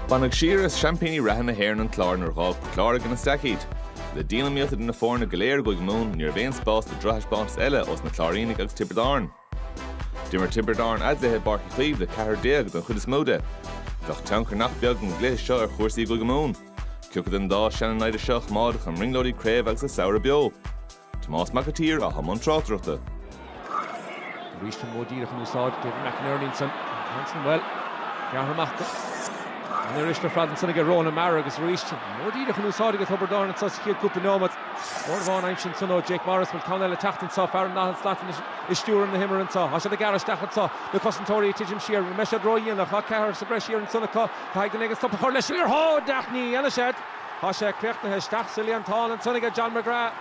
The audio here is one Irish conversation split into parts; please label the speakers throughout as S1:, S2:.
S1: Baineadh siar as seaimpíní reatha na hÉireann an Clár nuair dh'fhág Port Láirge ina staic iad. Le dianiomaíocht idir na foirne go léir i gCúige Mumhan, ní raibh aon spás do drochthaispeántas eile ós na Cláirínigh agus Tiobraid Árann. D'imir Tiobraid Árann a gcluiche i bPáirc Uí Chaoimh le 14 don chuid is mó de. Bheadh tionchar nach beag ag an gcluiche seo ar chúrsaí i gCúige Mumhan. Cé acu den dá seana-naimhde seo a choimeádfadh a mbrionglóidí craobh agus a samhradh beo. Tomás Mac an tSaoir atá i mbun tráchtaireachta. Arís an modh díreach in úsáid, David McInerney san Hanson, bhuel, gearrtha amach go. An liathróid isteach fada ansan aige Ronan Maher agus arís an modh díreach in úsáid aige Tiobraid Árann anso sa chéad cúpla nóiméad. Mór bhán aimsithe ansan ó Jake Morris, bhuel, ceann eile ag teacht anso, fear an Nathan Slaton is é ag stiúradh na himeartha anso. Tá siad ag gearradh isteach anso, na cosantóirí ag titim siar, bhuel, mbeidh siad ródhéanach, tá fear sa bhreis thiar ansan acu, caithfidh duine éigin stop a chur leis. Iarrthóir, Ach ní dhéanfaidh siad. Tá sé críochnaithe. Isteach sa líontán ansan aige John McGrath.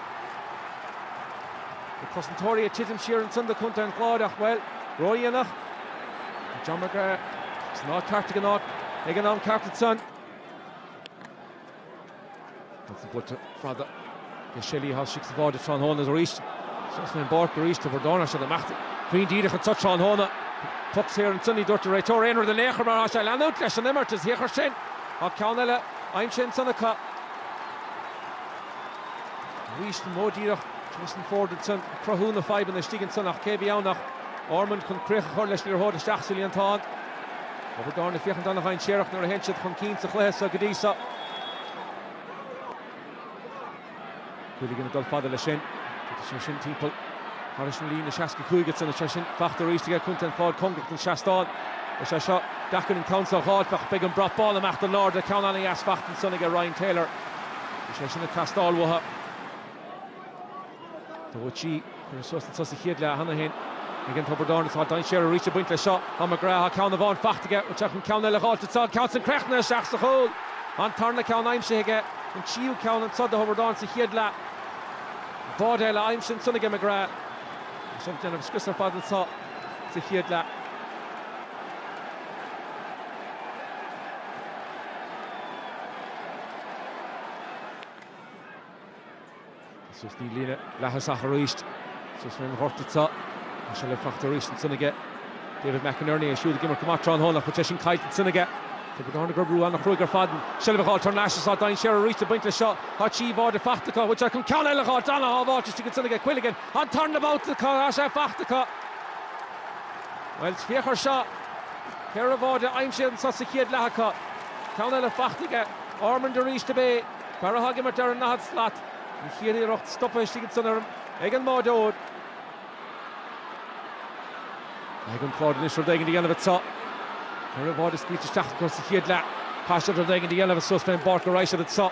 S1: Na cosantóirí ag titim siar ansan do Chontae an Chláir ach, bhuel, ródhéanach. John McGrath san áit cheart ag an áit ag an am ceart ansan. Ansan buailte fada. Rhys Shelly, tá sé sa bháide tráthnóna arís. Sheas mé an bárc arís, Tiobraid Árann ansin amach cruinn díreach anseo tráthnóna. Poc saor ansan, ní dúirt an réiteoir aon rud in aon chor mar tá sé ag leanúint leis an imirt. Is dhíochais sin. Tá ceann eile aimsithe ansan acu. Arís an modh díreach, Jason Forde ansan ag cruthú na fadhbanna istigh ansan ach cé a bhí ann ach Ormond chun críoch a chur leis liathróid isteach sa líontán. Tiobraid Árann ag féachaint an-dhainséarach nuair a théann siad chun cinn sa chluiche so go dtí so. Quilligan ag dul fada leis sin. Titfidh sé sin timpeall thairis na líne 65 ansan is é sin fachta arís aige ag Contae an Chláir, cóngarach don seastán. Is é seo deacair an ceann seo a dh'fháilt ach beidh an brat bán amach in airde, ceann ana-dheas fachta ansan aige Ryan Taylor. Bhí sé sin ag teastáil uathu. 2-3. Curtha suas anso sa chéad leath cheana féin aige Tiobraid Árann agus tá dainséar arís ag baint leis seo. Tá McGrath, tá ceann amháin faighte aige, ritear an ceann eile liathróid sall, ceann san críochnaithe isteach sa chúl. An tarna ceann aimsithe aige, an tríú ceann anseo do Thiobraid Árann sa chéad leath. An báide eile aimsithe ansan aige McGrath. Tá sé ag déanamh scrios ar fad anseo sa chéad leath. Is ós na líne leathais ach arís is ós rinn ghort atá sé le fachta arís ansan aige. David McInerney é siúd ag imirt go maith tráthnóna ach chuir sé sin caillte ansan aige. Tiobraid Árann ag cur brú ana-chruaidh ar fad an seilbh a ghabháil tar n-ais is tá dainséar arís ag baint leis seo. Tá trí bháide fachta acu, bhfuil siad chun ceann eile a ghabháil tráthnóna ach sábháilt istigh ansan aige. Quilligan an tarna babhta ach tá sé fachta acu. Bhuel, féach ar seo. Ceithre bháide aimsithe anso sa chéad leath acu. Ceann eile fachta aige. Ormond arís ab é. Fear atá ag imirt ar an ndaichead slat, an chéad iarracht stoptha istigh ansan fhoireann ag an mbáireoir. Caithfidh an Clár anois rud éigin a dhéanamh anseo. Ceithre bháide scaoilte isteach acu sa chéad leath. Caithfidh siad rud éigin a dhéanamh suas fén bpáirc go raghaidh siad anseo.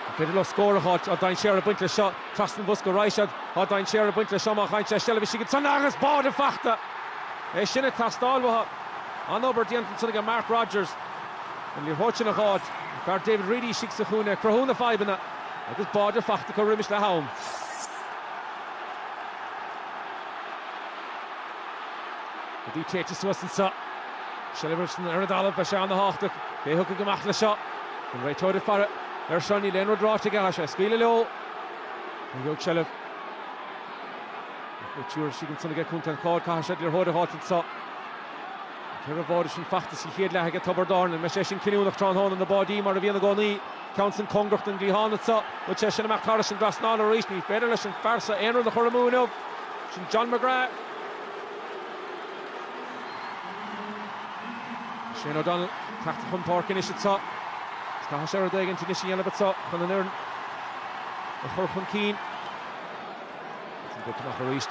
S1: An féidir leo scór a fháilt? Tá dainséar ag baint leis seo. Trasna an bhosca a raghaidh siad. Tá dainséar ag baint leis seo má chaill sé a seilbh istigh ansan agus báide fachta! É sin ag teastáil uathu. An-obair déanta ansan ag Mark Rodgers. An liathróid a dh'fháilt an fear David Reidy istigh sa chúinne, cruthú na fadhbanna agus báide fachta acu roimis leath-am. Rudaí téite suas anso. Sliotar ansan ar an dtalamh, beidh sé an-thábhachtach cé a thiocfaidh amach leis seo. An réiteoir ag faire air seo, níl aon rud ráite aige, tá sé ag scaoileadh leo. Ní gheobhadh Shelley ach bhfuil triúr istigh ansan aige Contae an Chláir, caithfidh siad an liathróid a dh'fháilt anso. Ceithre bháide sin fachta sa chéad leath aige Tiobraid Árann. An mbeidh sé sin cinniúnach tráthnóna? Na báidí mar a bhíonn i gcónaí. Ceann san cóngarach don gcliathán anseo. Chuaigh sé sin amach thairis an dtrasnán arís. Ní féidir leis an fear so aon rud a chur amú inniu. Sin John McGrath. Shane O'Donnell tagtha chun páirce anois anseo. Caithfidh sé rud éigin anois a dhéanamh anseo chun an fhoireann a chur chun cinn. Agus an poc amach arís.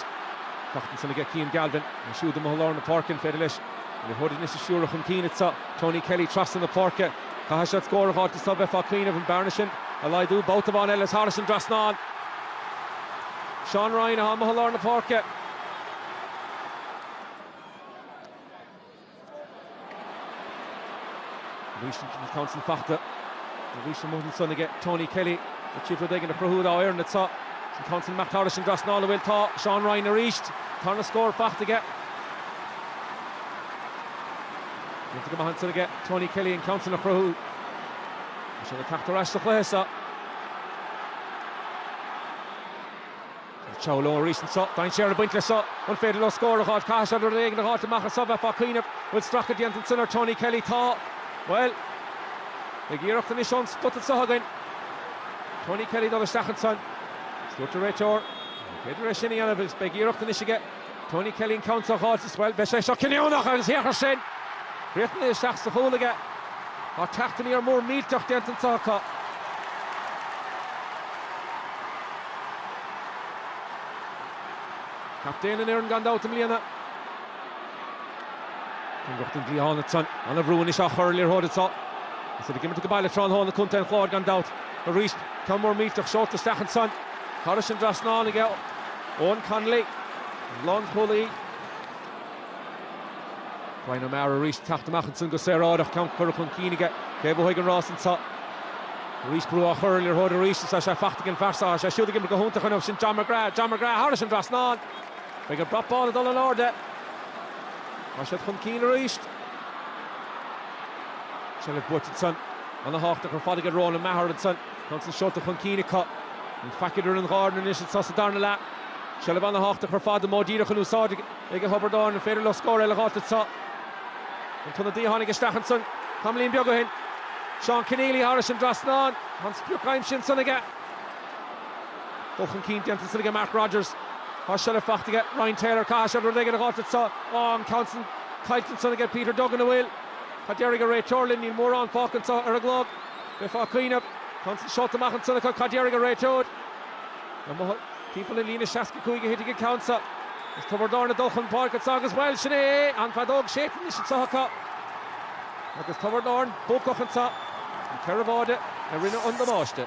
S1: Fachta ansin aige Cian Galvin. É siúd amuigh i lár na páirce, an féidir leis an liathróid anois a stiúradh chun cinn? Is tá Tony Kelly trasna na páirce. Caithfidh siad scór a fháilt anseo bheifeá ag cuimhneamh an bearna sin a laghdú babhta amháin eile. Is thairis an dtrasnán. Seán Rynne atá amuigh i lár na páirce. Arís an ceann san fachta. Arís amuigh ansan aige Tony Kelly. D'iarraidh rud éigin a chruthú dá fhoireann atá sé. An ceann san amach thairis an trasnán an bhfuil? Tá. Seán Rynne arís. Tarna scór fachta aige. Déanta go maith ansan aige Tony Kelly an ceann san a chruthú. Tá sé ag teacht ar ais sa chluiche seo. Siúd leo arís anseo, dainséar ag baint leis seo, an féidir leo scór a dh'fháilt? Caithfidh siad rud éigin a dh'fháilt amach as seo, bheifeá ag cuimhneamh. An bhfuil stracadh déanta ansin ar Tony Kelly? Tá. Bhuel. Beidh iarracht anois ón spota anseo againn. Tony Kelly dul isteach ansan. Is dúirt an réiteoir, Ní féidir é sin a dhéanamh agus beidh iarracht anois aige. Tony Kelly an ceann seo a fháil. Bhuel, beidh sé seo cinniúnach an sliotar sin. Riachtanais isteach sa chúl aige. Tá teacht aniar mór millteach déanta anseo acu. Captaen an fhoireann gan dabht i mbliana. An lucht an dlí thána san. Ana bhrú anois á chur ar an liathróid anseo. Is iad ag imirt ag baile tráthnóna Contae an Chláir gan dabht. Arís, ceann mór millteach seolta isteach ansan. Thairis an trasnán aige. Eoghan Connolly, an lánchúlaí. Bryan O'Mara arís ag teacht amach ansan go saoráideach, ceann curtha chun cinn aige. Cé a bhuafaidh an rás anseo? Arís brú á chur ar an liathróid arís agus tá sé faighte ag an bhfear seo. Tá sé siúd ag imirt go hiontach inniu. Sin John McGrath. John McGrath thairis an dtrasnán. Beidh an brat bán ag dul in airde. Tá siad chun cinn arís. Seilbh buaite ansan ana-thábhachtach ar fad aige Ronan Maher ansan. Ceann san seolta chun cinn acu. Gan faic idir an dhá fhoireann anois anso sa darna leath. Seilbh ana-thábhachtach ar fad an modh díreach in úsáid ag Tiobraid Árann. An féidir leo scór eile a dh'fháilt anseo? An t-ionadaí a tháinig isteach ansan tamaillín beag ó shin, Seán Kenneally, thairis an dtrasnán. An sprioc aimsithe ansan aige. Dul chun cinn déanta ansan aige Mark Rodgers. Tá seilbh faighte aige Ryan Taylor. Caithfidh siad rud éigin a dh'fháilt anseo. Á, an ceann san caillte ansan aige Peter Duggan, an bhfuil? Cad déarfaidh an réiteoir linn? Níl mórán fágtha anseo ar an gclog. Bheifeá ag cuimhneamh, an ceann san seolta amach ansan acu, cad déarfaidh an réiteoir? Amuigh timpeall an líne 65 a thitfidh an ceann seo. Is Tiobraid Árann ag dul chun páirce anso agus, bhuel, sin é é! An feadóg séidte anois anso acu. Agus Tiobraid Árann buacach anso. Na ceithre bháide a rinne an damáiste.